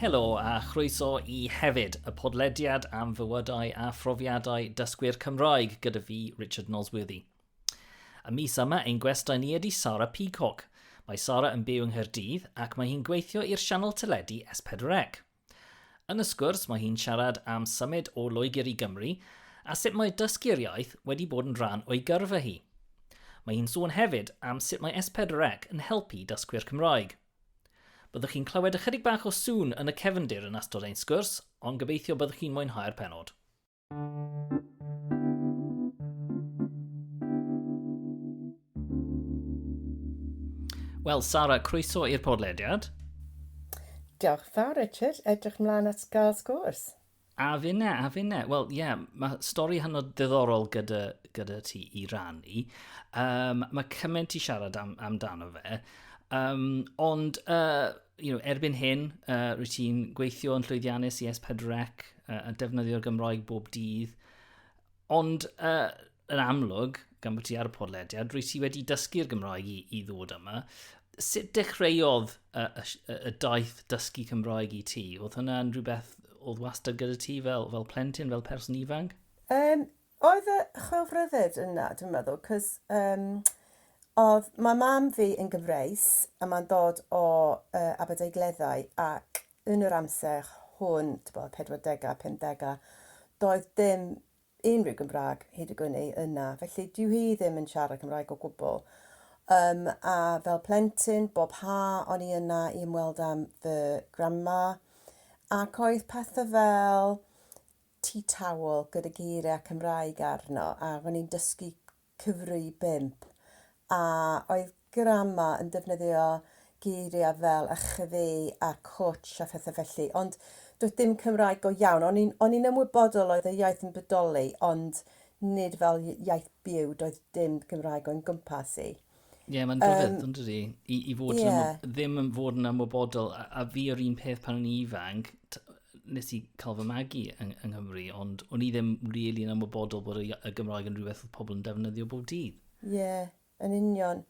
Helo a chroeso i Hefyd, y podlediad am fywydau a phrofiadau dysgwyr Cymraeg gyda fi, Richard Nosworthy. Y mis yma, ein gwestai ni ydy Sara Peacock. Mae Sara yn byw yng Nghaerdydd ac mae hi'n gweithio i'r sianel teledu S4C. Yn y sgwrs, mae hi'n siarad am symud o Loegr i Gymru a sut mae dysgu'r iaith wedi bod yn rhan o'i gyrfa hi. Mae hi'n sôn hefyd am sut mae S4C yn helpu dysgwyr Cymraeg. Byddwch chi'n clywed ychydig bach o sŵn yn y cefndir yn astod ein sgwrs, ond gobeithio byddwch chi'n mwynhau'r penod. Wel, Sara, croeso i'r podlediad. Diolch fawr, Richard. Edrych mlaen at gael sgwrs. A finne, a finne. Wel, ie, yeah, mae stori hynod ddiddorol gyda, gyda ti i rannu. Um, mae cymaint i siarad am, amdano fe. Um, ond, uh, you know, erbyn hyn, uh, rwy ti'n gweithio yn llwyddiannus i S4C uh, a defnyddio'r Gymroeg bob dydd. Ond uh, yn amlwg, gan bod ti ar y podlediad, rwy ti wedi dysgu'r Gymraeg i, i ddod yma. Sut dechreuodd y, y, y daith dysgu Cymraeg i ti? Oedd hwnna'n rhywbeth oedd wastad gyda ti fel, fel plentyn, fel person ifanc? Um, oedd y chwilfrydded yna, dwi'n meddwl, cos um, oedd, mae mam fi yn gyfreis a mae'n dod o uh, Aberdaugleddau ac yn yr amser hwn, tibod, pedwardegau, pumdegau, doedd dim unrhyw Gymraeg hyd y gwni yna, felly dyw hi ddim yn siarad Cymraeg o gwbl. Um, a fel plentyn, bob ha o'n i yna i ymweld am fy grandma, ac oedd pethau fel tea towel gyda geiriau Cymraeg arno, a o'n i'n dysgu Cymru bump, a oedd Grama yn defnyddio geiriau fel a chwi a cwtsh a phethau felly, ond doedd dim Cymraeg go iawn. O'n i'n, o'n i'n ymwybodol oedd y iaith yn bodoli, ond nid fel iaith byw, doedd dim Gymraeg o'n gwmpas i. Ie, yeah, mae'n rhyfedd, um, dydy? I, i fod yeah. yn, ddim yn fod yn ymwybodol, a, a fi o'r un peth pan o'n i ifanc, nes i cael fy magu yng, yng Nghymru, ond o'n i ddim rili really yn ymwybodol bod y, y Gymraeg yn rhywbeth oedd pobl yn defnyddio bob dydd. Ie, yeah, yn union.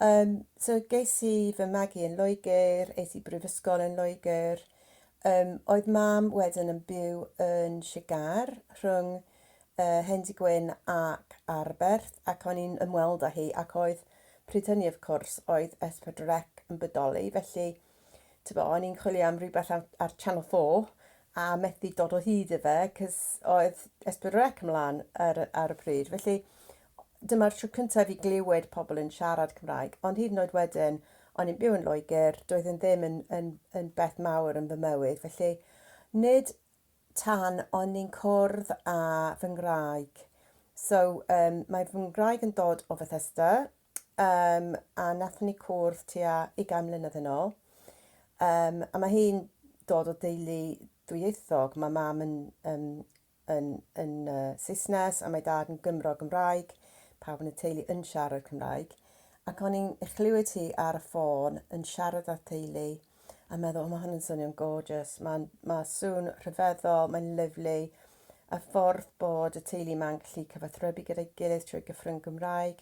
Um, so geis i fy magu yn Loegr, eis i brifysgol yn Loegr. Um, oedd mam wedyn yn byw yn Sigar rhwng y hen dŷ gwyn ac Arberth, ac o'n i'n ymweld â hi, ac oedd, pryd hynny of cwrs, oedd S4C yn bodoli, felly, tibod, o'n i'n chwilio am rhywbeth ar, ar Channel 4, a methu dod o hyd i fe, cys oedd S4C ymlaen ar, ar y pryd, felly, dyma'r tro cyntaf i fi glywed pobl yn siarad Cymraeg, ond hyd yn oed wedyn, o'n i'n byw yn Loegr, doedd yn ddim yn, yn, yn beth mawr yn fy mywyd, felly, nid tan o'n ni'n cwrdd â fy ngwraig. So, um, mae fy ngwraig yn dod o Bethesda, um, a nath ni cwrdd tua 20 mlynedd yn ôl. Um, a mae hi'n dod o deulu dwyieithog. Mae mam yn, um, yn, yn uh, Saesnes a mae dad yn Gymro Gymraeg. Pawb yn y teulu yn siarad Cymraeg. Ac o'n i'n chlywed hi ar y ffôn yn siarad â theulu A meddwl, mae hwn yn swnio'n gorgeous. Mae'n ma sŵn rhyfeddol, mae'n lyflu. A ffordd bod y teulu ma'n gallu cyfathrebu gyda'i gilydd trwy gyffrwng Gymraeg.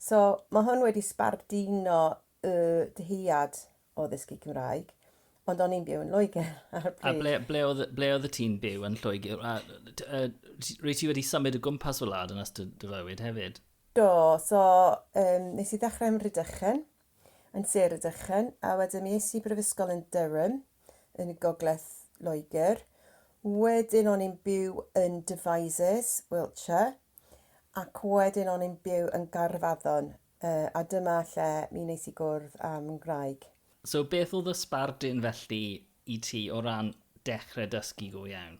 So, mae hwn wedi sbardino y dyhead o ddysgu Cymraeg. Ond o'n i'n byw yn Lloegr ar y pryd. A ble, ble, oedd, ble oedd y ti'n byw yn Lloegr? A, a, rwy ti wedi symud o gwmpas fy wlad yn ystod dy fywyd hefyd? Do, so um, nes i ddechrau ym Rhydychen yn Sir y Dychen, a wedyn mi es i brifysgol yn Durham, yn y gogledd Loegr. Wedyn o'n i'n byw yn Devizes, Wiltshire, ac wedyn o'n i'n byw yn Gaerfaddon, uh, a dyma lle mi wnes i gwrdd â fy ngwraig. So beth oedd y sbardun felly i ti o ran dechrau dysgu go iawn?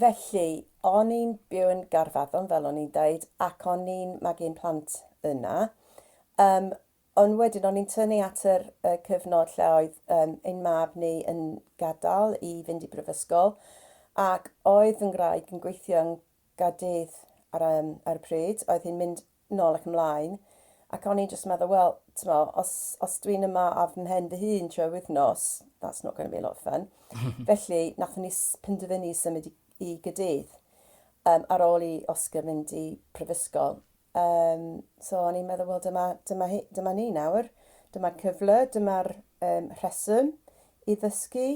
Felly, o'n i'n byw yn Gaerfaddon, fel o'n i'n dweud, ac o'n i'n magu'n plant yna. Um, ond wedyn, o'n i'n tynnu at yr uh, cyfnod lle oedd um, ein mab ni yn gadael i fynd i brifysgol, ac oedd yn graig yn gweithio yn gadydd ar, um, ar y pryd, oedd hi'n mynd nôl ac ymlaen, ac o'n i'n jyst yn meddwl, wel, t'mo, os, os dwi'n yma ar fy mhen fy hun trwy'r wythnos, that's not going to be a lot of fun. Felly, nathon ni penderfynu symud i, i Gydydd, um, ar ôl i Oscar mynd i prifysgol. Um, so, o'n i'n meddwl, wel, dyma, dyma, dyma ni nawr, dyma'r cyfle, dyma'r um, rheswm i ddysgu,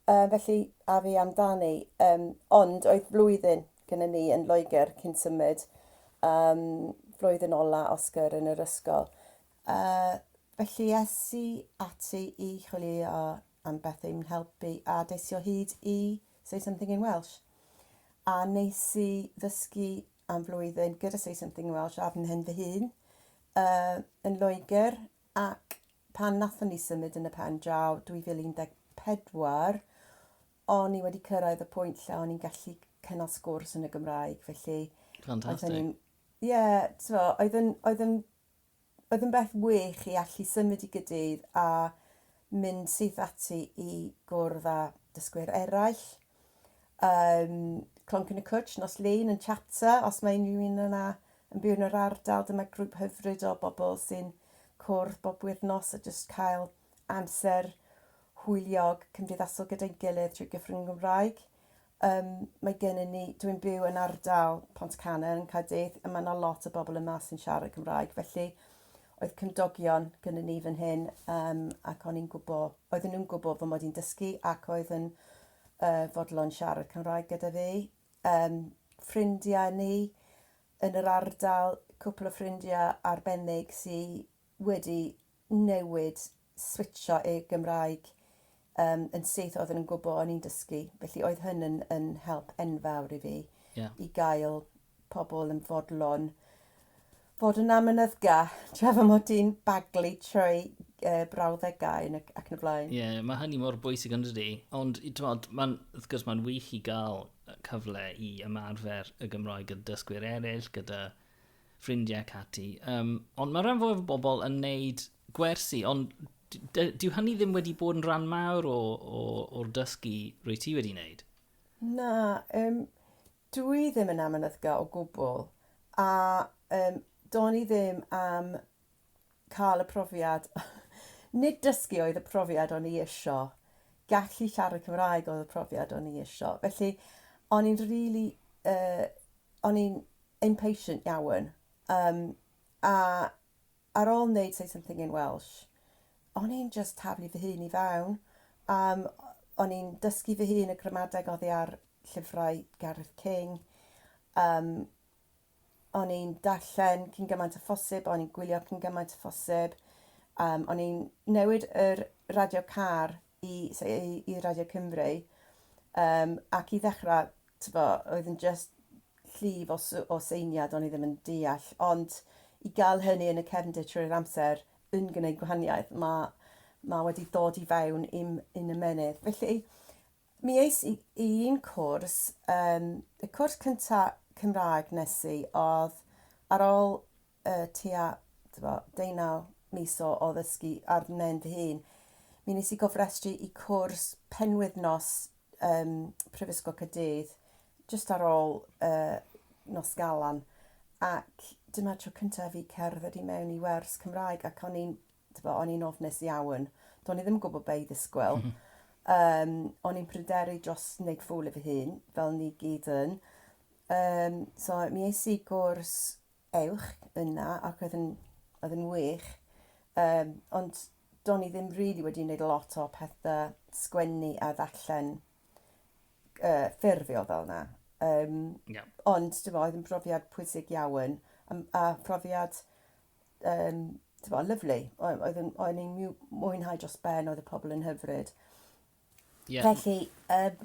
um, felly, a fi amdani. Um, ond, oedd flwyddyn gyda ni yn Loegr cyn symud, um, flwyddyn ola Oscar yn yr ysgol. Uh, felly es i ati i chwilio am beth i'n helpu a des i o hyd i Say Something in Welsh. A nes i ddysgu am flwyddyn gyda Say Something in Welsh ar fy fy hun uh, yn Loegr ac pan nathon ni symud yn y pen draw 2014, o'n i wedi cyrraedd y pwynt lle o'n i'n gallu cynnal sgwrs yn y Gymraeg, felly... Ffantastig. Ie, t'mo, oedd yn, oedd yn, oedd yn beth wych i allu symud i gydydd a mynd syth ati i gwrdd â dysgwyr eraill. Um, Clonc yn y Cwtsh, nos Lun yn Chapter, os mae unrhyw un yna yn byw yn yr ardal, dyma grŵp hyfryd o bobl sy'n cwrdd bob wythnos a jyst cael amser hwyliog, cymdeithasol gyda'n gilydd trwy gyfrwng y Gymraeg. Yym, mae gennym ni... Dwi'n byw yn ardal Pontcannon yn Caerdydd a mae yna lot o bobl yma sy'n siarad Cymraeg, felly oedd cymdogion gyda ni fan hyn um, ac o'n i'n gwybod, oedden nhw'n gwybod fy mod i'n dysgu ac oedd yn uh, fodlon siarad Cymraeg gyda fi. Um, ffrindiau ni yn yr ardal, cwpl o ffrindiau arbennig sydd wedi newid switsio i Gymraeg um, yn syth oedd yn gwybod o'n i'n dysgu. Felly oedd hyn yn, yn help enfawr i fi yeah. i gael pobl yn fodlon fod yn amynyddga, tra fy mod i'n baglu trwy uh, brawddegau ac, ac yn y blaen. Ie, yeah, mae hynny mor bwysig yn dydy. Ond, tymod, mae'n, wrth gwrs, mae'n wych i gael cyfle i ymarfer y Gymraeg gyda dysgwyr eraill, gyda ffrindiau ac ati. Um, ond mae rhan fwyaf o bobl yn neud gwersi, ond dyw hynny ddim wedi bod yn rhan mawr o'r dysgu rwy ti wedi wneud. Na, um, dw i ddim yn amynyddga o gwbl, a um, do'n i ddim am cael y profiad, nid dysgu oedd y profiad o'n i isio, gallu siarad Cymraeg oedd y profiad o'n i isio. Felly, o'n i'n really, uh, o'n i'n impatient iawn. Um, a ar ôl wneud Say Something in Welsh, o'n i'n just taflu fy hun i fewn. Um, o'n i'n dysgu fy hun y gramadeg oddi ar llyfrau Gareth King. Um, o'n i'n darllen cyn gymaint â phosib, o'n i'n gwylio cyn gymaint â phosib, um, o'n i'n newid yr radio car i, i, i Radio Cymru, um, ac i ddechrau, tyfo, oedd yn just llif o, o seiniad o'n i ddim yn deall, ond i gael hynny yn y cefndir trwy'r amser yn gwneud gwahaniaeth, mae, mae wedi dod i fewn i'm, yn ymenydd. Felly, Mi es i i un cwrs, yym, y cwrs cynta Cymraeg nes i oedd ar ôl yy tua, t'bo', deunaw mis o o ddysgu ar 'nen fy hun, mi nes i gofrestru i cwrs penwythnos yym Prifysgol Caerdydd jyst ar ôl yy nos Galan ac dyma'r tro cynta' i fi cerdded i mewn i wers Cymraeg ac o'n i'n Tibod, o'n i'n ofnus iawn. Do'n i ddim yn gwybod be' i ddisgwyl. Yym, o'n i'n pryderu dros neud ffŵl o fy hun, fel ni gyd yn. Yym, so mi es i gwrs uwch yna ac oedd yn, oedd yn wych. Um, ond do'n i ddim really wedi wneud lot o pethau sgwennu a ddarllen uh, ffurfiol fel yna. Um, yeah. Ond, dim oedd yn brofiad pwysig iawn a, a phrofiad Yym, tibod, lyfli. O- Oedd yn... O'n i'n miw- mwynhau dros ben, oedd y pobl yn hyfryd. Ie. Felly, yym,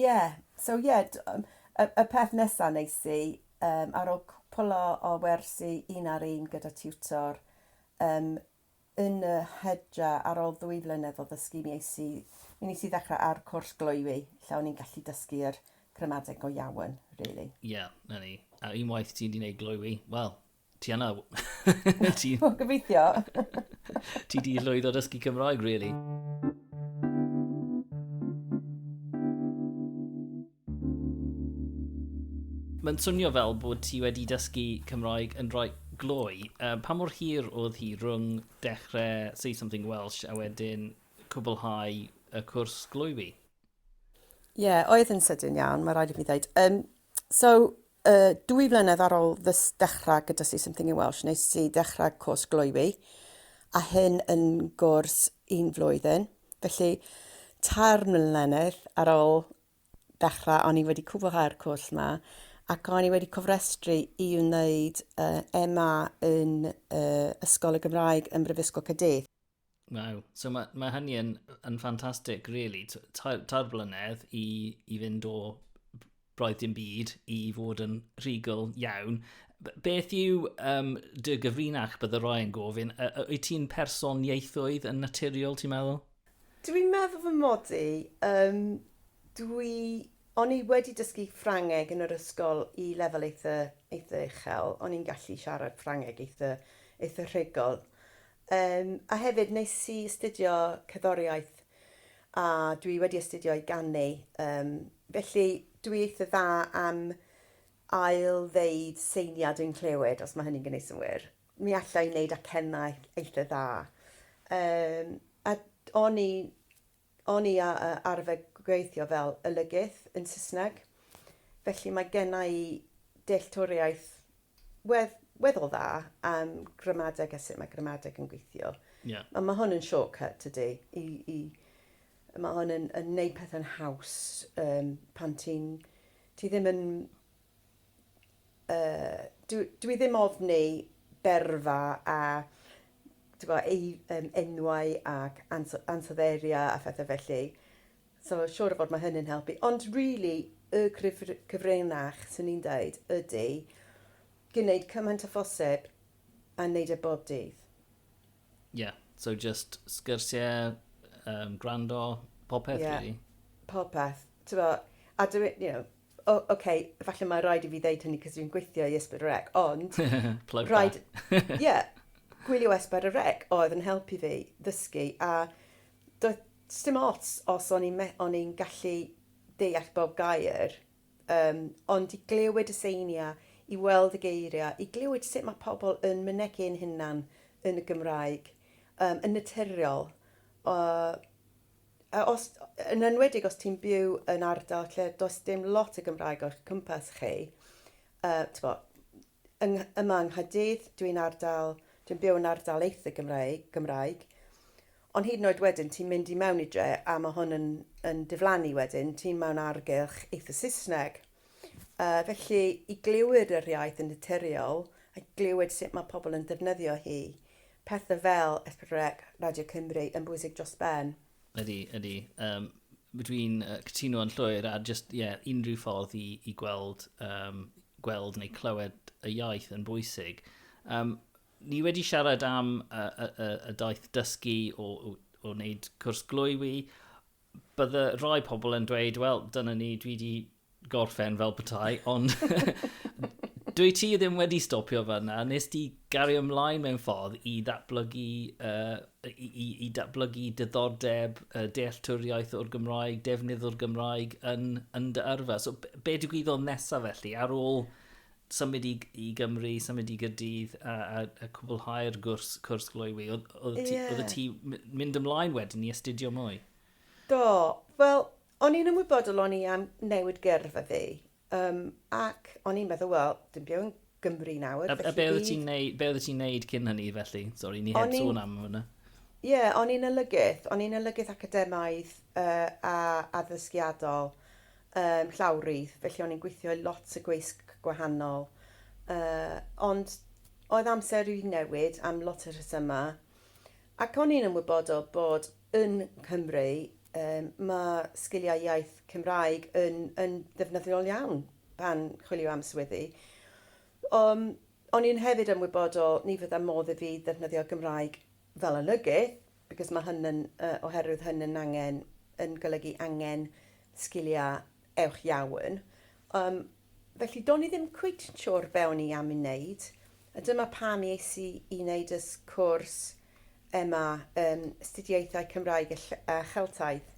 ie. So, ie, d- yym, y, y peth nesa nes i, yym, ar ôl cwpl o, o wersi un ar un gyda tiwtor, yym, yn y hydra, ar ôl ddwy flynedd o ddysgu, mi es i, mi nes i ddechrau ar cwrs gloywi, lle o'n i'n gallu dysgu'r gramadeg go iawn, really. Ie, na ni. A unwaith ti'n di wneud gloywi, wel, Ti yna? Ti... O, gobeithio. Ti di llwyddo dysgu Cymraeg, really. Mae'n swnio fel bod ti wedi dysgu Cymraeg yn rhoi gloi. Uh, pa mor hir oedd hi rhwng dechrau Say Something Welsh a wedyn cwblhau y cwrs gloi fi? Ie, yeah, oedd yn sydyn iawn, mae rhaid i mi ddweud. Um, so, Y dwy flynedd ar ôl fy dechrau gyda Say Something in Welsh, nes i ddechrau cwrs gloywi, a hyn yn gwrs un flwyddyn. Felly, tair mlynedd ar ôl dechrau, o'n i wedi cwblhau'r cwrs yma, ac o'n i wedi cofrestru i wneud uh, MA yn uh, Ysgol y Gymraeg ym Mhrifysgol Caerdydd. Waw. So mae, mae hynny yn, yn ffantastig, really. Tair, tair blynedd i, i fynd o broedd dim byd i fod yn rhugl iawn. Beth yw um, dy gyfrinach bydd y roi'n gofyn? Wyt ti'n person ieithoedd yn naturiol, ti'n meddwl? Dwi'n meddwl fy mod i. Um, dwi... O'n i wedi dysgu Ffrangeg yn yr ysgol i lefel eitha, eitha uchel. O'n i'n gallu siarad Ffrangeg eitha, eitha rhugl. Yym, a hefyd nes i astudio cerddoriaeth a dwi wedi astudio i ganu, yym, felly dwi eitha dda am ail-ddeud seiniau dwi'n clywed, os mae hynny'n gwneud synnwyr. Mi alla i wneud acennau eitha dda. Yym, a d- o'n i O'n i a arfer gweithio fel olygydd yn Saesneg, felly mae genna i dealltwriaeth wedd- weddol dda am gramadeg a sut mae gramadeg yn gweithio. Ie. A mae hwn yn shortcut, tydi? I, i... Mae hwn yn, yn neud pethau'n haws, yym, pan ti'n... Ti ddim yn... yy dwi ddim ofni berfa a t'bo' ei- yym enwau ac ans- ansoddeiriau a phethe felly so siŵr o fod ma' hynny'n helpu ond rili y cyfr- cyfrinach swn i'n deud ydi gneud cymaint â phosib a neud e bob dydd. Ie, so jyst sgyrsiau, yym gwrando, popeth rili? Ie, popeth. T'bo' a dwi you know O, ok, falle mae rhaid i fi ddeud hynny cos dwi'n gweithio i Ysbryd y Rec, ond... Plug rhaid... Ie, gwylio Ysbryd y Rec oedd yn helpu fi ddysgu a doedd sdim ots os o'n i'n me- o'n i'n gallu deall bob gair, yym, ond i glywed y seiniau, i weld y geiriau, i glywed sut mae pobl yn mynegi'n hunan yn y Gymraeg, yym, yn naturiol, yy, A os, yn enwedig os ti'n byw yn ardal lle does dim lot o Gymraeg o'ch cwmpas chi, uh, tyfo, yng, yma yng Nghadydd, dwi'n ardal, dwi'n byw yn ardal eitha Gymraeg, Gymraeg, ond hyd yn oed wedyn ti'n mynd i mewn i dre a mae hwn yn, yn diflannu wedyn, ti'n mewn argylch eitha Saesneg. Yy, felly, i glywed yr iaith yn naturiol, a glywed sut mae pobl yn defnyddio hi, pethau fel Esbonrec, Radio Cymru, yn bwysig dros ben. Ydy, ydy. Um, dwi'n uh, cytuno yn llwyr, a just, ie, yeah, unrhyw ffordd i, i gweld, um, gweld neu clywed y iaith yn bwysig. Um, ni wedi siarad am y, y, y, y daith dysgu o, o, o wneud cwrs glwywi, Bydde rhai pobl yn dweud, wel, dyna ni, dwi wedi gorffen fel petai, ond dwi ti ddim wedi stopio fanna. Nes ti gario ymlaen mewn ffordd i ddatblygu, uh, i, i, i datblygu diddordeb, uh, dealltwriaeth o'r Gymraeg, defnydd o'r Gymraeg yn, yn dy yrfa. So, be digwyddodd nesaf felly ar ôl symud i i Gymru, symud i Gyrdydd a, a, a cwblhau'r gwrs, cwrs gloywi. Oedd, oedd, ti, yeah. oedd ti mynd ymlaen wedyn i astudio mwy? Do, wel, o'n i'n ymwybodol o'n i am newid gyrf a fi. Um, ac o'n i'n meddwl, wel, dim byw yn Gymru nawr. A, a be oedd ti'n neud, be oedd ti'n neud cyn hynny felly? Sorry, ni heb sôn am hwnna. Ie, yeah, o'n i'n olygydd. O'n i'n olygydd academaidd uh, a addysgiadol. Yym llawrydd, felly o'n i'n gweithio i lot o gweisg gwahanol. Yy, ond oedd amser i newid am lot o rhesyma. Ac o'n i'n ymwybodol bod yn Nghymru yym ma' sgiliau iaith Cymraeg yn yn ddefnyddiol iawn pan chwilio am swyddi. Yym O'n i'n hefyd ymwybodol ni fydda modd i fi ddefnyddio Gymraeg fel olygydd, because ma hyn yn, yy, oherwydd hyn yn angen, yn golygu angen sgiliau ewch iawn. Yym, felly do'n i ddim cweit yn siwr be o'n i am i wneud, a dyma pam ies i i wneud y cwrs ema yn Astudiaethau Cymraeg a Ll- a Cheltaidd,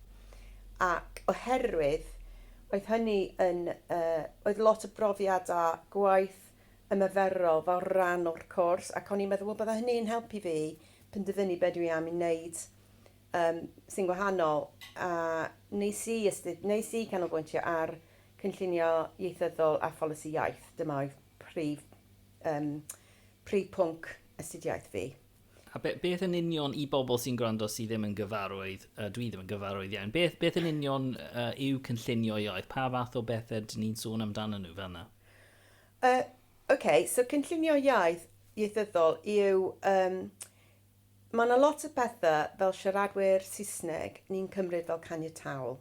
ac oherwydd oedd hynny yn, yy, oedd lot o brofiadau gwaith ymarferol fel rhan o'r cwrs ac o'n i'n meddwl wel bydda hynny'n helpu fi penderfynu be dwi am i wneud yym sy'n wahanol a wnes i ystyr- wnes i canolbwyntio ar cynllunio ieithyddol a pholisi iaith, dyma oedd prif yym prif pwnc astudiaeth fi. A be- beth yn union i bobl sy'n gwrando sydd ddim yn gyfarwydd, yy dwi ddim yn gyfarwydd iawn, beth beth yn union yy yw cynllunio iaith? Pa fath o bethe 'dyn ni'n sôn amdanyn nhw fan'na? Yy, ocê, so cynllunio iaith, ieithyddol, yw, yym, ma' 'na lot o pethe fel siaradwyr Saesneg ni'n cymryd fel caniataol.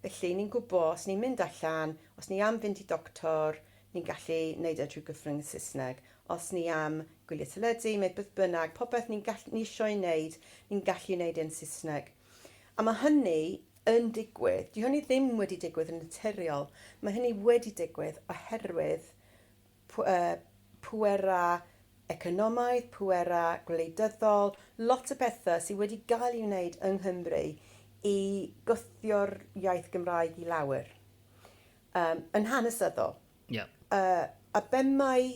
Felly, ni'n gwbo os ni'n mynd allan, os ni am fynd i doctor, ni'n gallu neud e trwy gyfrwng y Saesneg. Os ni am gwylio teledu, neu beth bynnag, popeth ni'n gall- ni isio'i neud, ni'n gallu neud e'n Saesneg. A ma' hynny yn digwydd. Dyw hynny ddim wedi digwydd yn naturiol. Mae hynny wedi digwydd oherwydd pwerau economaidd, pwerau gwleidyddol, lot o bethau sydd wedi cael ei wneud yng Nghymru i gwthio'r iaith Gymraeg i lawr, yn hanesyddol. Yeah. Uh, a be mae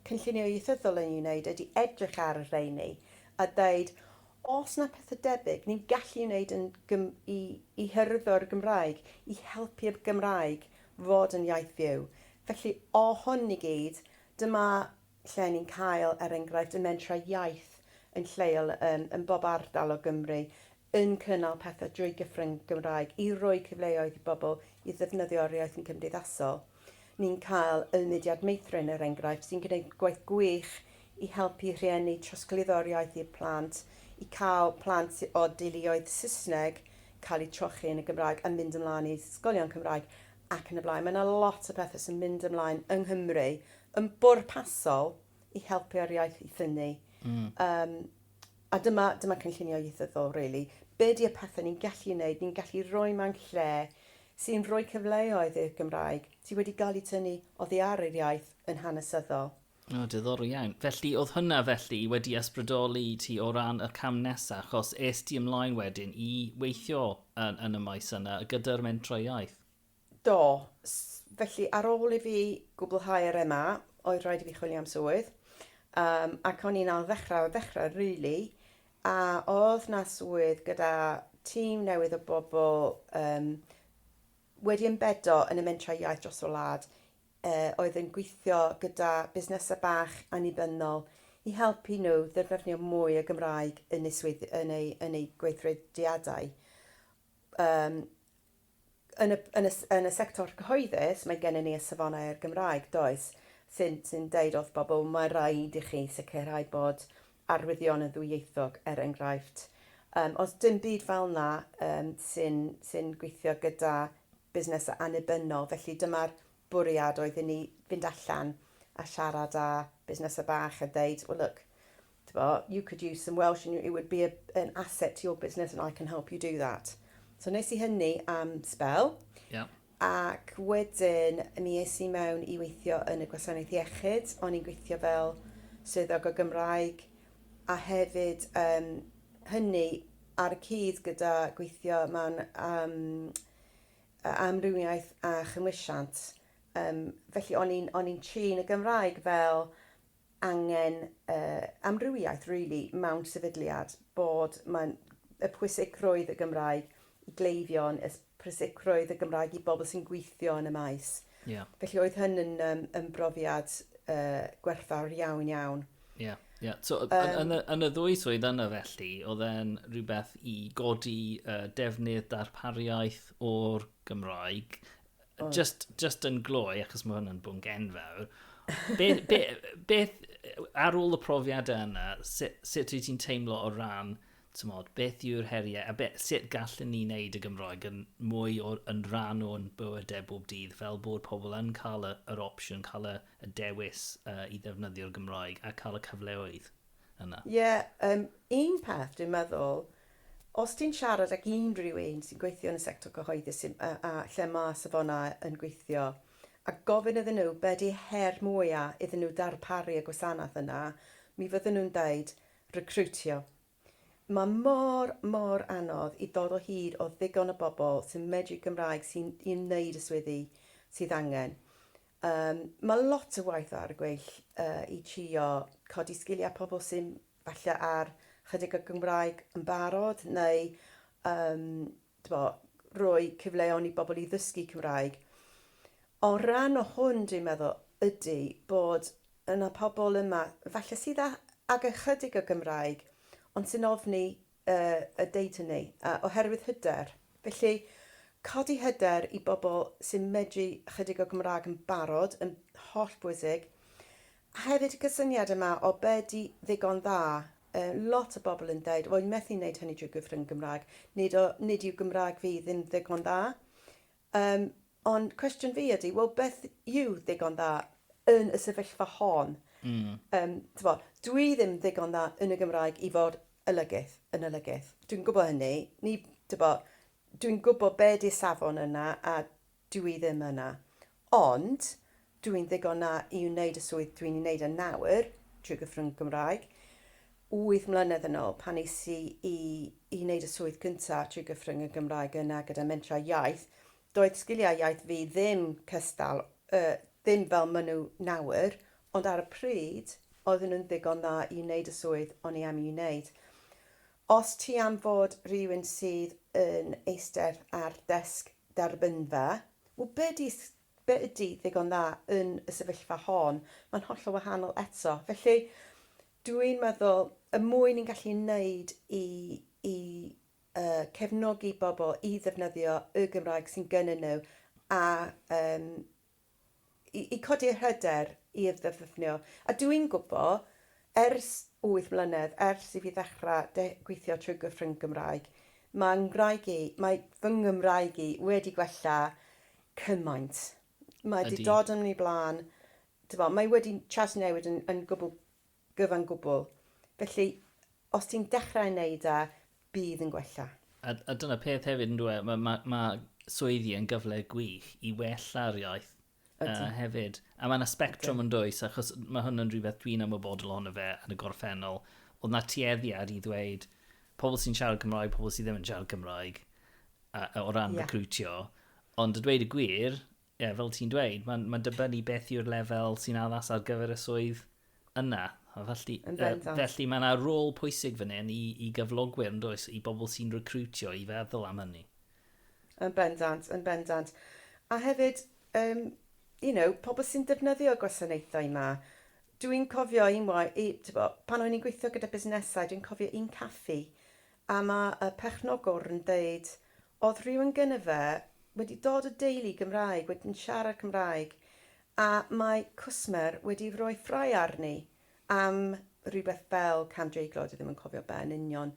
cynllunio ieithyddol yn ei wneud ydy edrych ar y rheini a dweud, Oes 'na pethe debyg ni'n gallu ei wneud yn Gym-, i, i hyrwyddo'r Gymraeg, i helpu y Gymraeg fod yn iaith fyw? Felly, o hwn i gyd, dyma lle ni'n cael, er enghraifft, y mentrau iaith yn lleol yn, yn bob ardal o Gymru, yn cynnal pethe drwy Gyfrwng Gymraeg i roi cyfleoedd i bobl i ddefnyddio'r iaith yn cymdeithasol. Ni'n cael y mudiad meithrin, er enghraifft, sy'n gwneud gwaith gwych i helpu rhieni trosglwyddo'r iaith i'r plant, i cael plant o deuluoedd Saesneg cael eu trochi yn y Gymraeg a mynd ymlaen i ysgolion Cymraeg ac yn y blaen. Mae yna lot o bethau sy'n mynd ymlaen yng Nghymru yn bwrpasol i helpu'r iaith i ffynnu. Yym. A dyma, dyma cynllunio ieithyddol rili. Be ydy y pethau ni'n gallu ei wneud, ni'n gallu rhoi mewn lle sy'n rhoi cyfleoedd i'r Gymraeg sydd wedi cael eu tynnu oddi ar yr iaith yn hanesyddol. O, diddorol iawn. Felly, oedd hwnna felly wedi ysbrydoli ti o ran y cam nesa, achos es di ymlaen wedyn i weithio yn, yn y maes yna gyda'r mentrau iaith? Do. Felly, ar ôl i fi gwblhau'r MA, oedd rhaid i fi chwilio am swydd. Yym, ac o'n i'n ailddechrau o'r ddechrau, rili. A oedd 'na swydd gyda tîm newydd o bobl yym wedi ymbedo yn y mentrau iaith dros y wlad, yy, oedd yn gweithio gyda busnesau bach annibynnol i helpu nhw ddefnyddio mwy o Gymraeg yn eu swydd- yn eu yn eu gweithrediadau. Yym. Yn y yn y yn y sector cyhoeddus mae gennym ni y Safonau a'r Gymraeg, does, sy'n sy'n deud wrth bobl mae rhaid i chi sicrhau bod arwyddion yn ddwyieithog, er enghraifft. Yym, os dim byd fel yna yym sy'n sy'n gweithio gyda busnesau annibynnol, felly dyma'r bwriad oedd i ni fynd allan a siarad â busnesau bach a deud, well look, Tibod, you could use some Welsh and it would be a, an asset to your business and I can help you do that. So nes i hynny am spel. Yeah. Ac wedyn, mi es i mewn i weithio yn y gwasanaeth iechyd. O'n i'n gweithio fel swyddog o Gymraeg a hefyd um, hynny ar y cyd gyda gweithio mewn um, amrywiaeth a chymwysiant. Um, felly o'n i'n trin y Gymraeg fel angen yy amrywiaeth rili mewn sefydliad, bod mae'n y pwysigrwydd y Gymraeg i gleifion, y pwysigrwydd y Gymraeg i bobl sy'n gweithio yn y maes. Yeah. Felly oedd hyn yn, um, yn brofiad uh, gwerthfawr iawn iawn. Ie, yeah, ie. Yeah. So, um, yn, y, yn y ddwy swydd yna felly, oedd e'n rhywbeth i godi uh, defnydd darpariaeth o'r Gymraeg Oh. Just, just yn gloi, achos mae hwn yn bwnc enfawr. Beth, be, beth, ar ôl y profiadau yna, sut, sut wyt ti'n teimlo o ran, tymod, beth yw'r heriau, a beth, sut gallen ni wneud y Gymroeg yn mwy o, yn rhan o'n bywydau bob dydd, fel bod pobl yn cael y, yr opsiwn, cael y, y dewis uh, i ddefnyddio'r Gymroeg a cael y cyfleoedd yna? Ie, yeah, um, un peth dwi'n meddwl, Os ti'n siarad ag unrhyw un sy'n gweithio yn y sector cyhoeddus a lle mae safonau yn gweithio a gofyn iddyn nhw be ydy her mwya iddyn nhw darparu y gwasanaeth yna, mi fydden nhw'n deud recriwtio. Mae mor, mor anodd i ddod o hyd o ddigon o bobl sy'n medru Cymraeg sy'n i wneud y swyddi sydd angen. Mae lot o waith ar y gweill i trio codi sgiliau pobl sy'n falle ar chydig o Gymraeg yn barod neu yym t'bo' roi cyfleon i bobl i ddysgu Cymraeg. O ran o hwn dwi'n meddwl ydy bod yna pobl yma falle sydd â ag ychydig o Gymraeg ond sy'n ofni y y deud hynny yy oherwydd hyder. Felly codi hyder i bobl sy'n medru ychydig o Gymraeg yn barod yn hollbwysig. A hefyd y cysyniad yma o be ydy ddigon dda. Yy lot o bobl yn deud, wel, methu wneud hynny drwy gyfrwng Gymraeg. Nid o, nid yw Gymraeg fi ddim ddigon dda. Yym, ond cwestiwn fi ydy, wel, beth yw ddigon dda yn y sefyllfa hon? Mm. Um, tyfo, dwi ddim ddigon dda yn y Gymraeg i fod olygydd, yn olygydd. Dwi'n gwybod hynny. Ni, tyfo, dwi'n gwybod be di'r safon yna a Dw i ddim yna. Ond, dw i'n ddigon na i wneud y swydd dw i'n ei wneud yn nawr, trwy gyfrwng y Gymraeg. Wyth mlynedd yn ôl, pan es i i i wneud y swydd cyntaf trwy gyfrwng y Gymraeg yna gyda Mentrau Iaith, doedd sgiliau iaith fi ddim cystal, yy, ddim fel maen nhw nawr, ond ar y pryd, oedden nhw'n ddigon dda i wneud y swydd o'n i am ei wneud. Os ti am fod rhywun sydd yn eistedd ar desg derbynfa, wel be ydy, be ydy ddigon dda yn y sefyllfa hon? Mae'n hollol wahanol eto. Felly, dw i'n meddwl, y mwy ni'n gallu wneud i, i uh, cefnogi bobl i ddefnyddio y Gymraeg sy'n gynnyn nhw a um, i codi'r hyder i ddefnyddio. A dw i'n gwybod, ers wyth mlynedd, ers i fi ddechrau gweithio trwy gyfrwng Gymraeg, mae Nghymraeg i, mae fy Nghymraeg i wedi gwella cymaint. Mae wedi dod yn ei blaen, mae wedi trawsnewid yn gwbl gyfan gwbl. Felly, os ti'n dechrau yn neud a, bydd yn gwella. A, a dyna peth hefyd yndyw e, mae ma, ma swyddi yn gyfle gwych i wella'r iaith uh, hefyd. A mae yna spectrum yn dwys, achos mae hwn yn rhywbeth dwi'n ymwybodol ohono fe yn y gorffennol. Oedd na tueddiad i ddweud pobl sy'n siarad Cymraeg, pobl sydd ddim yn siarad Cymraeg, uh, o ran yeah. recrwtio. Ond y dweud y gwir, Ie, yeah, fel ti'n dweud, mae'n ma dibynnu beth yw'r lefel sy'n addas ar gyfer y swydd yna. Felly, uh, felly mae yna rôl pwysig fan hyn i, i gyflogwyr yn does, i bobl sy'n recrwtio i feddwl am hynny. Yn bendant, yn bendant. A hefyd, um, you know, pobl sy'n defnyddio gwasanaethau yma, dwi'n cofio un waith, pan o'n i'n gweithio gyda busnesau, dwi'n cofio un caffi, A mae y pechnogwr yn deud, oedd rhywun gynno fe wedi dod o deulu Gymraeg, wedi'n siarad Cymraeg, a mae cwsmer wedi rhoi ffrae arni am rhywbeth fel cam dreiglo, dwi ddim yn cofio be yn union,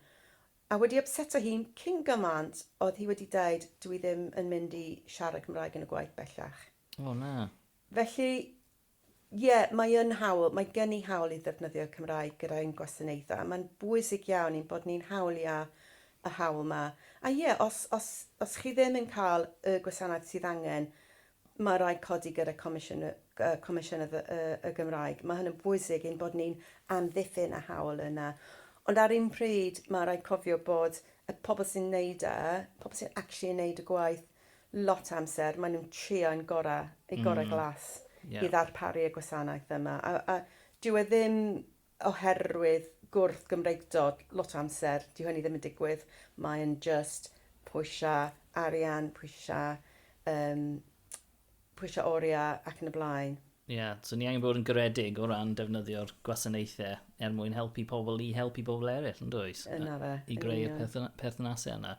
a wedi ypseto hi cyn gymaint oedd hi wedi deud, dwi ddim yn mynd i siarad Cymraeg yn y gwaith bellach. O na. Felly, Ie, mae yn hawl, mae gen i hawl i ddefnyddio'r Cymraeg gyda ein gwasanaethau, a mae'n bwysig iawn i'n bod ni'n hawlio y hawl 'ma. A ie, os, os, os chi ddim yn cael y gwasanaeth sydd angen, mae'n rhaid codi gyda Comisiwn y, y, Comisiynydd y, y, y Gymraeg. Mae hynny'n bwysig i'n bod ni'n amddiffyn y hawl yna. Ond ar un pryd, mae'n rhaid cofio bod y pobl sy'n wneud e, pobl sy'n actually yn wneud y gwaith, lot o amser maen nhw'n trio yn gora, eu gorau mm. glas yeah. i ddarparu y gwasanaeth yma. A, a dyw e ddim oherwydd gwrth Gymreigdod lot o amser, dyw hynny ddim yn digwydd. Mae'n just pwysau arian, pwysau um, pwysau oriau ac yn y blaen. Ie, so ni angen bod yn garedig o ran defnyddio'r gwasanaethau er mwyn helpu pobl i helpu pobl eraill, yn does? Yna fe. I greu y perthnasau yna.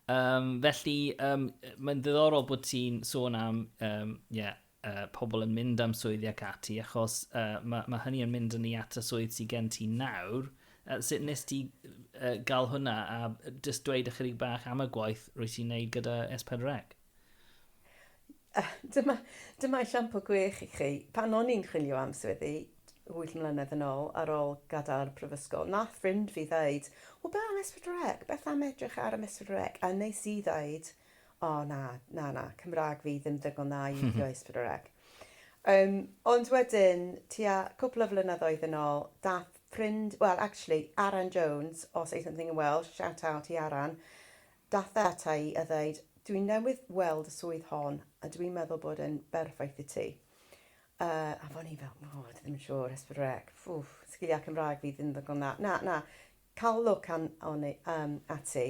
Um, felly, um, mae'n ddiddorol bod ti'n sôn am um, yeah, uh, pobl yn mynd am swyddi ac ati, achos uh, mae ma hynny yn mynd yn ei at y swydd sy'n gen ti nawr. Uh, sut nes ti uh, gael hwnna a just dweud ychydig bach am y gwaith rwy ti'n neud gyda S4C? Uh, dyma, dyma esiampl gwych i chi. Pan o'n i'n chwilio am swyddi, 8 mlynedd yn ôl, ar ôl gadael y prifysgol, nath ffrind fi ddeud, o be am Esbydrec, beth am edrych ar am Esbydrec? A nes i ddeud, o oh, na, na, na, Cymraeg fi ddim ddigon dda i withio Esbydrec. Um, ond wedyn, tua cwpl o flynyddoedd yn ôl, dath ffrind, well, actually, Aran Jones, o Say Something in Welsh, shout out i Aran, Daeth e ata i a ddeud, Dwi newydd weld y swydd hon a dwi'n meddwl bod e'n berffaith i ti. Uh, a fo'n i fel, o, oh, ddim yn siŵr, esbrec, ffwf, sgiliau Cymraeg fi ddim ddigon dda. Na, na, cael look an, on, um, ati.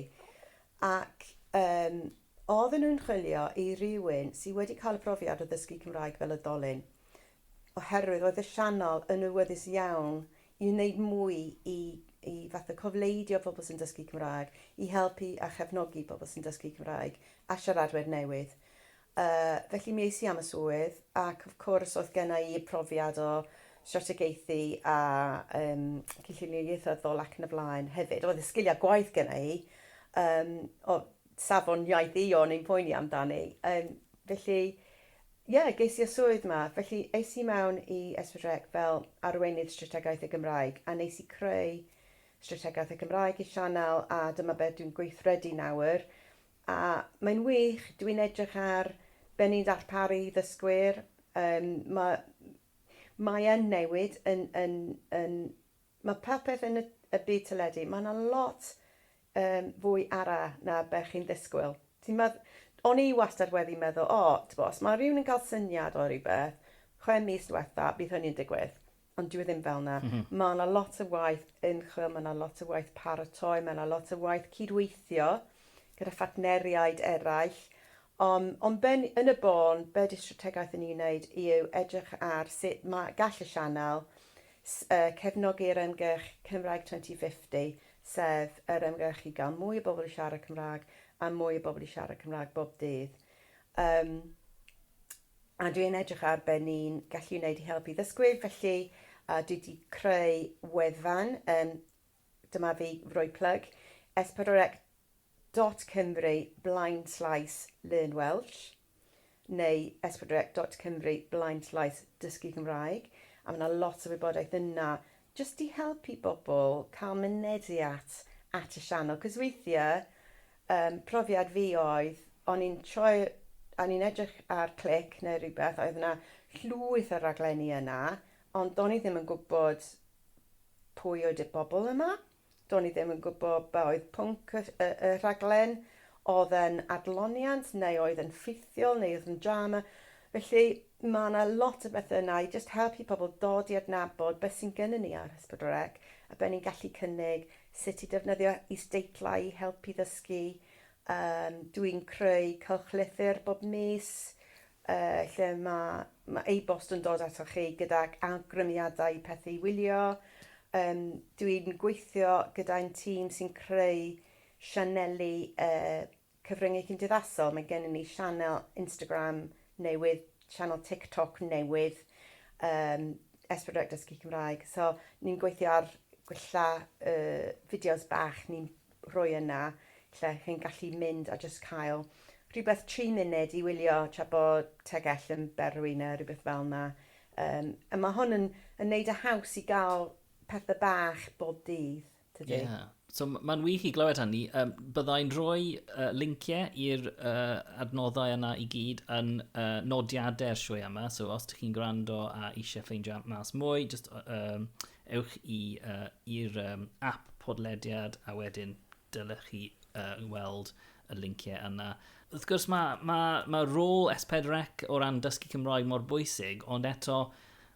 Ac um, oedden nhw'n chwilio i rywun sydd wedi cael y profiad o ddysgu Cymraeg fel y dolyn, oherwydd roedd y sianel yn awyddus iawn i wneud mwy i i fatha cofleidio pobl sy'n dysgu Cymraeg, i helpu a chefnogi pobl sy'n dysgu Cymraeg a siaradwyr newydd. Yy, felly mi es i am y swydd ac of course oedd genna i y profiad o strategaethu a yym cynllunio ieithyddol ac yn y blaen hefyd. Oedd y sgiliau gwaith genna i, yym, o safon iaith i o'n i'n poeni amdani. Yym, felly, Ie, ges i y swydd 'ma. Felly, es i mewn i Esbydrec fel Arweinydd Strategaeth y Gymraeg, a nes i creu Strategaeth y Gymraeg i'r Sianel, a dyma beth dwi'n gweithredu nawr. A mae'n wych, dwi'n edrych ar be ni'n darparu i ddysgwyr. Yym, ma', mae yn newid yn, yn, yn, ma' popeth yn y, y byd teledu, ma' 'na lot yn fwy ara na be chi'n ddisgwyl. Ti'n medd-... O'n i wastad wedi meddwl, o, t'bo', os ma' rywun yn cael syniad o rywbeth, chwe mis dwetha, bydd hynny yn digwydd. Ond dyw e ddim fel 'na. Ma' 'na lot o waith ymchwil, ma' 'na lot o waith paratoi, ma' 'na lot o waith cydweithio gyda phartneriaid eraill. Yym, ond be ni... Yn y bôn, be 'di strategaeth ni'n neud yw edrych ar sut ma' gall y sianel s- yy cefnogi'r ymgyrch Cymraeg 2050, sef yr ymgyrch i gael mwy o bobl i siarad Cymraeg a mwy o bobl i siarad Cymraeg bob dydd. Um, a dwi yn edrych ar be ni'n gallu wneud i helpu ddysgwyr, felly uh, dwi wedi creu wefan, um, dyma fi roi plug, s4c.cymru blaen slaes learn Welsh. neu esbonrec dot cymru blaenllaeth dysgu Cymraeg, a ma' 'na lot o wybodaeth yna jyst i helpu bobl cael mynediad at y sianel, 'c'os weithie yym profiad fi oedd o'n i'n troi o'n i'n edrych ar clic neu rywbeth oedd 'na llwyth o raglenni yna ond do'n i ddim yn gwbod pwy oedd y bobl yma. Do'n i ddim yn gwybod be oedd pwnc y y y rhaglen, oedd e'n adloniant neu oedd e'n ffeithiol neu oedd yn drama, felly ma' 'na lot o bethe yna i jyst helpu pobl dod i adnabod be sy'n gynnon ni ar S4C a be ni'n gallu cynnig, sut i defnyddio isdeitlau i helpu ddysgu, yym dwi'n creu cylchlythyr bob mis, lle mae e-bost yn dod atoch chi gydag awgrymiadau i pethau i wylio. Dwi'n gweithio gyda'n tîm sy'n creu sianeli cyfryngau cymdeithasol. Mae gennym ni sianel Instagram newydd, sianel TikTok newydd, S4C Dysgu Cymraeg. So, ni'n gweithio ar gwella fideos bach. rhoi yna lle chi'n gallu mynd a jyst cael rhywbeth tri munud i wylio tra bod tegell yn berwi neu rhywbeth fel yna. Um, a mae hwn yn, yn neud y haws i gael pethau bach bob dydd, tydi? Ie. Yeah. So mae'n wych i glywed hynny. Um, byddai'n rhoi uh, linciau i'r uh, adnoddau yna i gyd yn uh, nodiadau'r sioe yma. So os ydych chi'n gwrando a eisiau ffeindio mas mwy, just, um, Ewch i i'r ap podlediad a wedyn dylech chi weld y linciau yna. Wrth gwrs mae mae mae rôl S4C o ran dysgu Cymraeg mor bwysig ond eto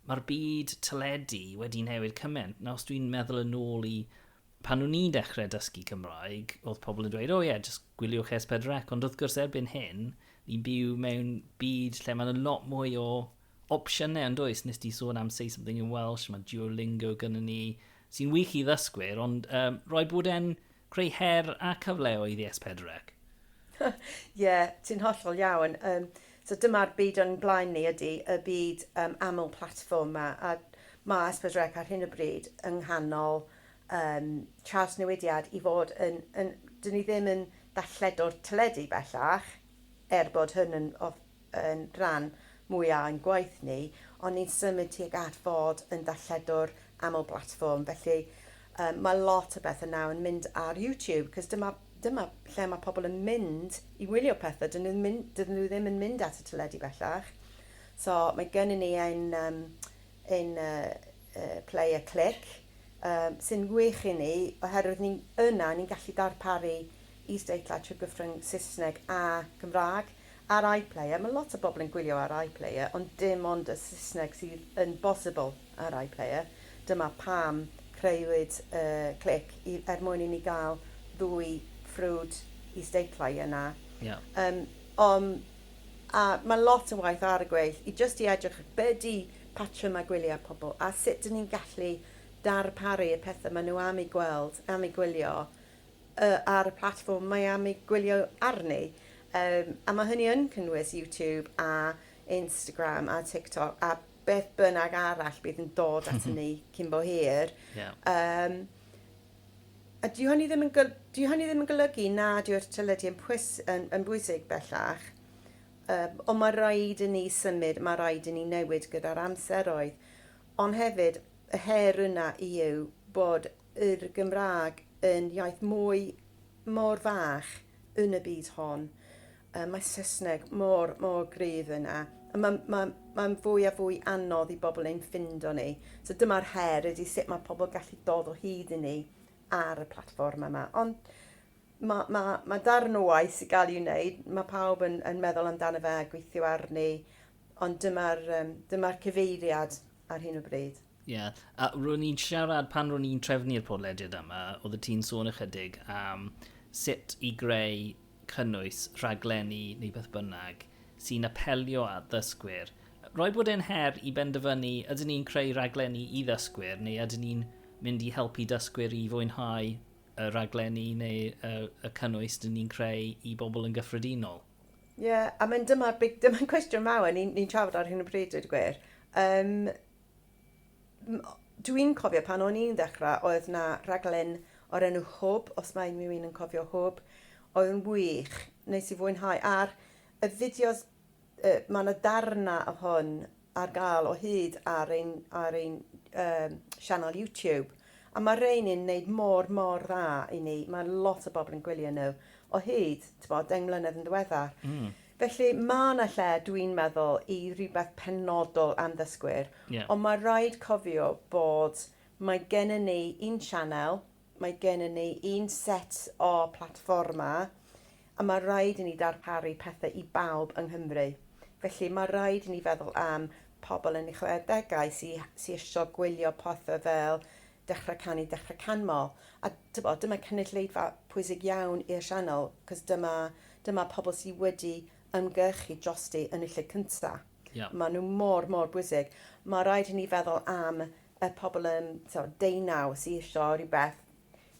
mae'r byd teledu wedi newid cymaint. Nawr os dwi'n meddwl yn ôl i pan o'n i'n dechrau dysgu Cymraeg oedd pobl yn dweud o oh, ie yeah, jyst gwyliwch S4C ond wrth gwrs erbyn hyn ni'n byw mewn byd lle mae'n lot mwy o opsiynau yn does? Nes di sôn am Say Something in Welsh, mae Duolingo gyda ni, sy'n wych i ddysgwyr, ond um, rhaid bod e'n creu her a cyfleoedd i S4C. Ie, yeah, ti'n hollol iawn. Um, so dyma'r byd o'n blaen ni ydy, y byd um, aml platform ma, a mae Esbydrec ar hyn o bryd yng nghanol um, trawsnewidiad i fod yn, yn... Dyn ni ddim yn dalledo'r teledu bellach, er bod hyn yn yn rhan mwy â'n gwaith ni, ond ni'n symud tuag at fod yn darlledwr aml-blatfform, felly um, mae lot o bethau nawr yn mynd ar YouTube, cos dyma, dyma lle mae pobl yn mynd i wylio pethau, dyn nhw, mynd, dyn nhw ddim yn mynd at y teledu bellach. So mae gennym ni ein, um, ein uh, uh, player click, um, sy'n wych i ni, oherwydd ni, yna ni'n gallu darparu is-deitlau trwy gyfrwng Saesneg a Gymraeg, Ar iPlayer, mae lot o bobl yn gwylio ar iPlayer, ond dim ond y Saesneg sydd yn bosibl ar iPlayer. Dyma pam creuwyd y clic, i, er mwyn i ni gael ddwy ffrwd is-deitlau yna. Ie. Yym, om, a mae lot o waith ar y gweill i jyst i edrych be ydy patrymau gwyliau pobl, a sut dyn ni'n gallu darparu y pethau maen nhw am eu gweld, am eu gwylio, ar y platfform mae am ei gwylio arni, yym, a ma' hynny yn cynnwys YouTube a Instagram a TikTok a beth bynnag arall bydd yn dod at ni cyn bo hir. Yeah. Um, a dyw hynny ddim yn, gol, dyw hynny ddim yn golygu na dyw'r teledu yn, pwys, yn, yn bwysig bellach, um, ond mae rhaid i ni symud, mae rhaid i ni newid gyda'r amseroedd. Ond hefyd, y her yna i yw bod yr Gymraeg yn iaith mwy, mor fach yn y byd hon. Yy mae Saesneg mor, mor gryf yna. A mae'n mae, mae fwy a fwy anodd i bobl ein ffindo ni. So dyma'r her ydy sut mae pobl gallu dod o hyd i ni ar y platfform yma. Ond mae, mae, mae darn o waith sy'n cael ei wneud, mae pawb yn, yn meddwl amdano fe a gweithio arni, ond dyma'r um, dyma cyfeiriad ar hyn o bryd. Ie, yeah. a ro'n i'n siarad pan ro'n i'n trefnu'r podlediad yma, oedd y ti'n sôn ychydig am sut i greu cynnwys rhaglenni neu beth bynnag sy'n apelio at ddysgwyr. Roi bod e'n her i benderfynu ydyn ni'n creu rhaglenni i ddysgwyr neu ydyn ni'n mynd i helpu dysgwyr i fwynhau y rhaglenni neu y, y cynnwys dyn ni'n creu i bobl yn gyffredinol. Ie, yeah, a mae'n dyma'r big... dyma'n cwestiwn mawr ni'n ni trafod ar hyn o bryd, dweud y gwir. Um, dwi'n cofio pan o'n i'n ddechrau, oedd na raglen o'r enw Hwb, os mae unrhyw un yn cofio Hwb, oedd yn wych, nes i fwynhau. A'r y fideos, uh, mae yna darna o hwn ar gael o hyd ar ein ar ein yym sianel YouTube a ma' rhein yn neud mor mor dda i ni ma' lot o bobl yn gwylio nhw o hyd t'bod deng mlynedd yn ddiweddar. Hmm. Felly ma' 'na lle dwi'n meddwl i rywbeth penodol am ddysgwyr. Ie. Ond ma' raid cofio bod mae gennon ni un sianel Mae gennym ni un set o platfformau a mae rhaid i ni ddarparu pethau i bawb yng Nghymru. Felly, mae rhaid i ni feddwl am pobl yn eu chwedegau sy sy eisiau gwylio pethau fel Dechrau Canu, Dechrau Canmol. A tibod, dyma cynulleidfa pwysig iawn i'r sianel, achos dyma dyma pobl sydd wedi ymgyrchu drosti yn y lle cyntaf. Yeah. Maen nhw mor, mor bwysig. Mae rhaid i ni feddwl am y pobl yn so, deunaw sy'n eisiau rhywbeth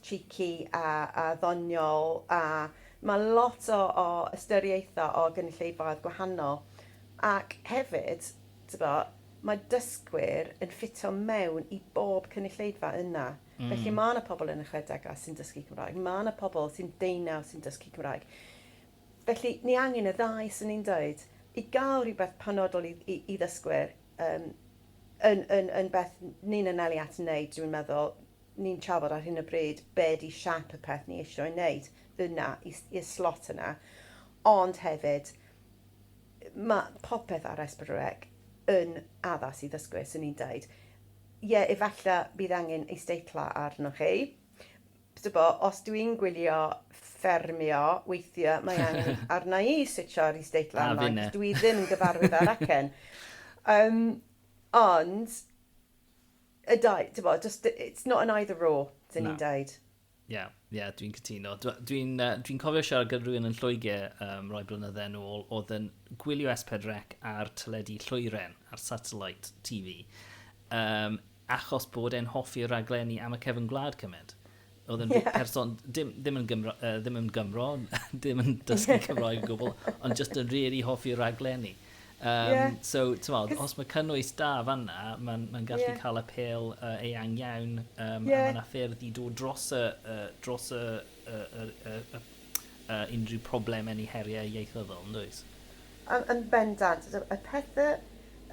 cheeky a, a ddoniol a mae lot o, o ystyriaethau o gynulleidfaoedd gwahanol ac hefyd bo, mae dysgwyr yn ffitio mewn i bob cynulleidfa yna. Mm. Felly mae yna pobl yn y chwedegau sy'n dysgu Cymraeg, mae yna pobl sy'n deunaw sy'n dysgu Cymraeg. Felly, ni angen y ddau, 'swn i'n dweud. I gael rhywbeth penodol i i i ddysgwyr yym yn yn yn beth ni'n anelu at wneud, dwi'n meddwl, ni'n trafod ar hyn o bryd be ydy siap y peth ni isio'i wneud yna, i s- i'r slot yna. Ond hefyd, mae popeth ar Esbyrrec yn addas i ddysgwyr, 'swn i'n dweud. Ie, efallai bydd angen isdeitlau arnoch chi. Tybio, os dw i'n gwylio ffermio, weithiau mae angen arna i switsio ar is-date landline, cos dw i ddim yn gyfarwydd â'r acen. Yym, ond, y dau, tybio, just, it's not an either or, dyn ni'n dweud. Ie, yeah, ie, yeah, dwi'n cytuno. Dwi'n uh, dwi cofio siarad gyda rhywun yn Lloegr um, rhoi blynydde yn ôl, oedd yn gwylio S4 Rec ar teledu Llwyren, ar satellite TV. Um, achos bod e'n hoffi raglenni am y cefn gwlad cymaint. Oedd yn yeah. person, dim, ddim, yn Gymro, uh, ddim yn Gymro, ddim yn dysgu Cymroeg o gwbl, ond just yn really hoffi raglenni. Um, yeah. So, ti'n modd, os mae cynnwys da fanna, mae'n ma gallu yeah. cael apel uh, eang iawn, um, yeah. a mae'n ffyrdd i dod dros y, uh, dros y, y, y, y, y a unrhyw problemau neu heriau ieithyddol, yn does? Yn, yn bendant. Y pethe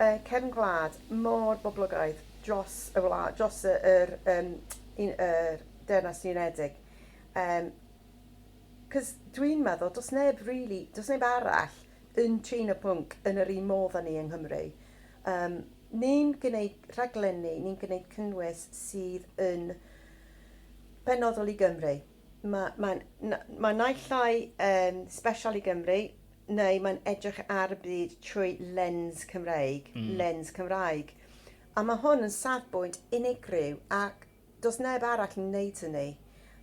yy cefn gwlad mor boblogaidd dros y wla, dros y, yr, um, un, yr Deyrnas Unedig. Um, Cos dwi'n meddwl, dos neb really, dos neb arall yn trin y pwnc yn yr un modd â ni yng Nghymru. Um, ni'n gwneud rhaglenni, ni'n gwneud cynnwys sydd yn penodol i Gymru. Mae, mae'n, na, mae naill ai yn special i Gymru, neu mae'n edrych ar y byd trwy lens Cymreig, mm. lens Cymraeg. A mae hwn yn safbwynt unigryw ac does neb arall yn wneud hynny.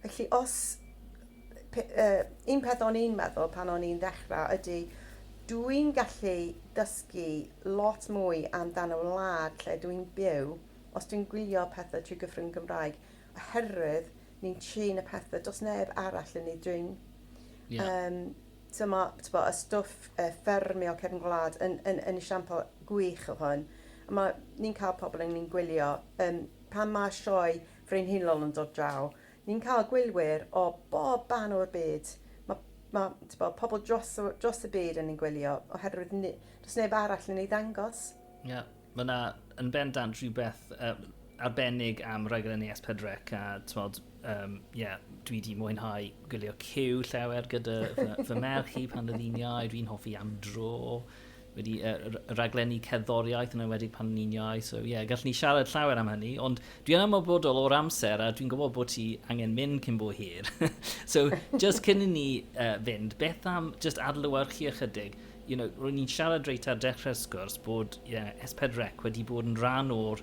Felly os... Pe, uh, un peth o'n i'n meddwl pan o'n i'n ddechrau ydy dwi'n gallu dysgu lot mwy amdan y wlad lle dwi'n byw os dwi'n gwylio pethau trwy gyfrwng Gymraeg oherwydd ni'n trin y pethau, does neb arall yn ei drin. Yeah. Um, so mae bo, y stwff uh, ffermio cefn gwlad yn, yn, yn esiampl gwych o hwn. A mae ni'n cael pobl yn ni'n gwylio, um, pan mae sioe frenhinol yn dod draw, ni'n cael gwylwyr o bob ban o'r byd. Mae ma, bo, pobl dros, dros y byd yn ni'n gwylio, oherwydd ni, does neb arall yn ei ddangos. Yeah. Mae yna yn bendant rhywbeth uh, arbennig am raglen ES Pedrec a tmod, um, yeah, dwi wedi mwynhau gwylio cyw llawer gyda fy, fy merch i pan oedd hi'n iau, dwi'n hoffi am dro, wedi uh, raglenni cerddoriaeth yn enwedig pan ni'n iau, so ie, yeah, gallwn ni siarad llawer am hynny, ond dwi'n amlbodol o'r amser a dwi'n gwybod bod ti angen mynd cyn bo hir. so, just cyn i ni uh, fynd, beth am just adlywyrchu ychydig, you know, ro'n ni'n siarad reit ar dechrau'r sgwrs bod yeah, S4C wedi bod yn rhan o'r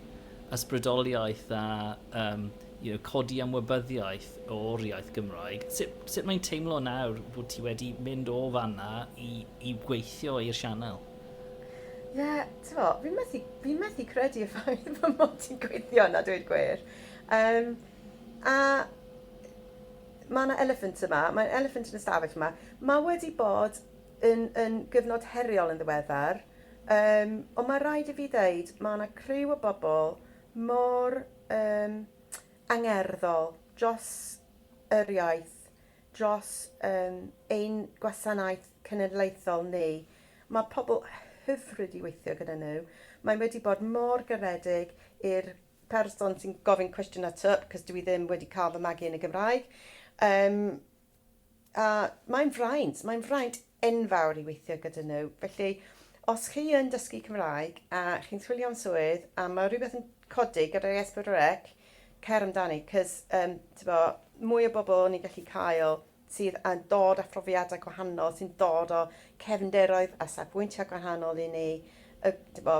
ysbrydoliaeth a um, you know, codi ymwybyddiaeth o'r iaith Gymraeg. Sut, sut mae'n teimlo nawr bod ti wedi mynd o fanna i, i gweithio i'r sianel? Ie, yeah, ti'n fo, fi'n methu, fi methu credu y ffaith fy mod ti'n gweithio yna, dweud gwir. Um, a mae yna elephant yma, mae'n elephant yn y stafell yma. Mae wedi bod yn yn gyfnod heriol yn ddiweddar yym ond mae rhaid i fi ddeud mae yna criw o bobl mor yym angerddol dros yr iaith, dros yym ein gwasanaeth cenedlaethol ni. Mae pobl hyfryd i weithio gyda nhw. Mae wedi bod mor garedig i'r person sy'n gofyn cwestiynau tŷp, cos dwi ddim wedi cael fy magu yn y Gymraeg. Yym A mae'n fraint, mae'n fraint enfawr i weithio gyda nhw. Felly, os chi yn dysgu Cymraeg a chi'n chwilio am swydd a mae rhywbeth yn codi gyda'r S4C, cer amdani, cys um, bo, mwy o bobl ni'n gallu cael sydd yn dod â phrofiadau gwahanol, sy'n dod o cefnderoedd a safbwyntiau gwahanol i ni, y, bo,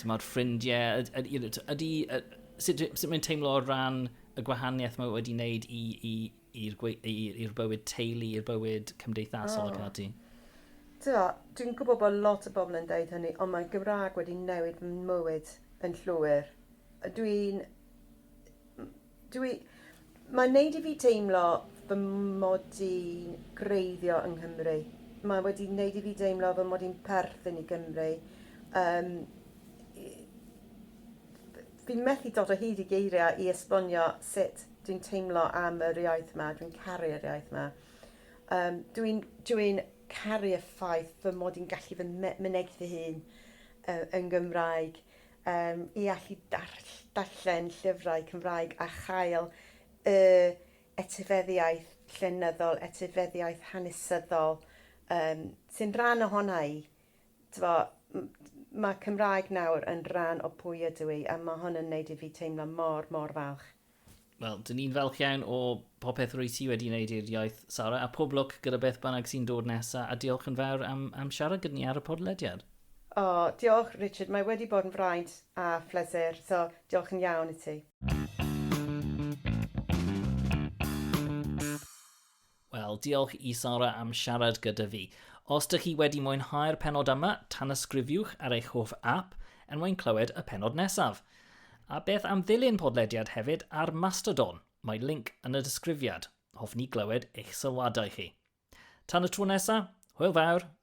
Tymod, ffrindiau, ydy, sut, sut mae'n teimlo o ran y gwahaniaeth mae wedi wneud i'r bywyd teulu, i'r bywyd cymdeithasol oh. ac ati? Dwi'n gwybod bod lot o bobl yn dweud hynny, ond mae Gymraeg wedi newid mywyd yn llwyr. Dwi'n Dwi... mae'n neud i fi deimlo fy mod i'n greiddio yng Nghymru. Mae wedi neud i fi deimlo fy mod i'n perthyn i Gymru. Yym i- fi'n methu dod o hyd i geiriau i esbonio sut dwi'n teimlo am yr iaith 'ma. Dwi'n caru'r iaith 'ma. Yym dwi'n... dwi'n caru y ffaith fy mod i'n gallu fy me- mynegi fy hun yy yn Gymraeg. Yym, i allu darll- darllen llyfrau Cymraeg a chael y etifeddiaeth llenyddol, etifeddiaeth hanesyddol, yym, sy'n rhan ohona i. T'bo', m- ma' Cymraeg nawr yn rhan o pwy ydw i, a ma' hwn yn neud i fi teimlo mor, mor falch. Wel, dyn ni'n falch iawn o popeth rwy ti wedi wneud i'r iaith, Sara, a pob lwc gyda beth bynnag sy'n dod nesa, a diolch yn fawr am, am siarad gyda ni ar y podlediad. O, diolch, Richard, mae wedi bod yn fraint a phlesur, so diolch yn iawn i ti. Wel, diolch i Sara am siarad gyda fi. Os dych chi wedi mwynhau'r penod yma, tanysgrifiwch ar eich hoff app er mwyn clywed y penod nesaf. A beth am ddilyn podlediad hefyd ar Mastodon? Mae link yn y disgrifiad. Hoffwn ni glywed eich sylwadau chi. Tan y tro nesaf, hwyl fawr